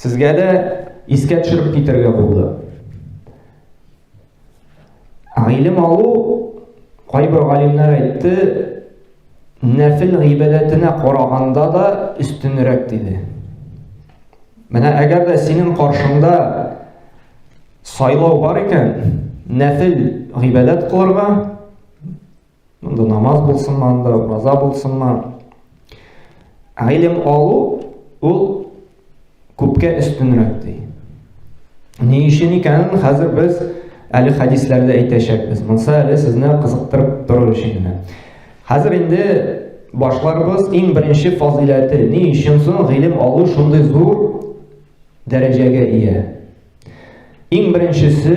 Сезгә дә искә төшереп китерергә булды. Гыйлем алу кайбер галимнәр әйтте, нәфил гыйбадәтенә караганда да өстенрәк диде. Менә әгәр дә синең каршыңда сайлау бар икән, нәфил гыйбадәт кылырга Монда намаз булсынмы, анда ураза булсынмы. Гыйлем алу ул күпкә өстенрәк ди. Ни өчен икәнен хәзер без әле хәдисләрдә әйтәчәкбез. Монса әле сезне кызыктырып тору өчен генә. Хәзер инде башларыбыз иң беренче фазыйләте. Ни өчен соң гыйлем алу шундый зур дәрәҗәгә ия? Иң беренчесе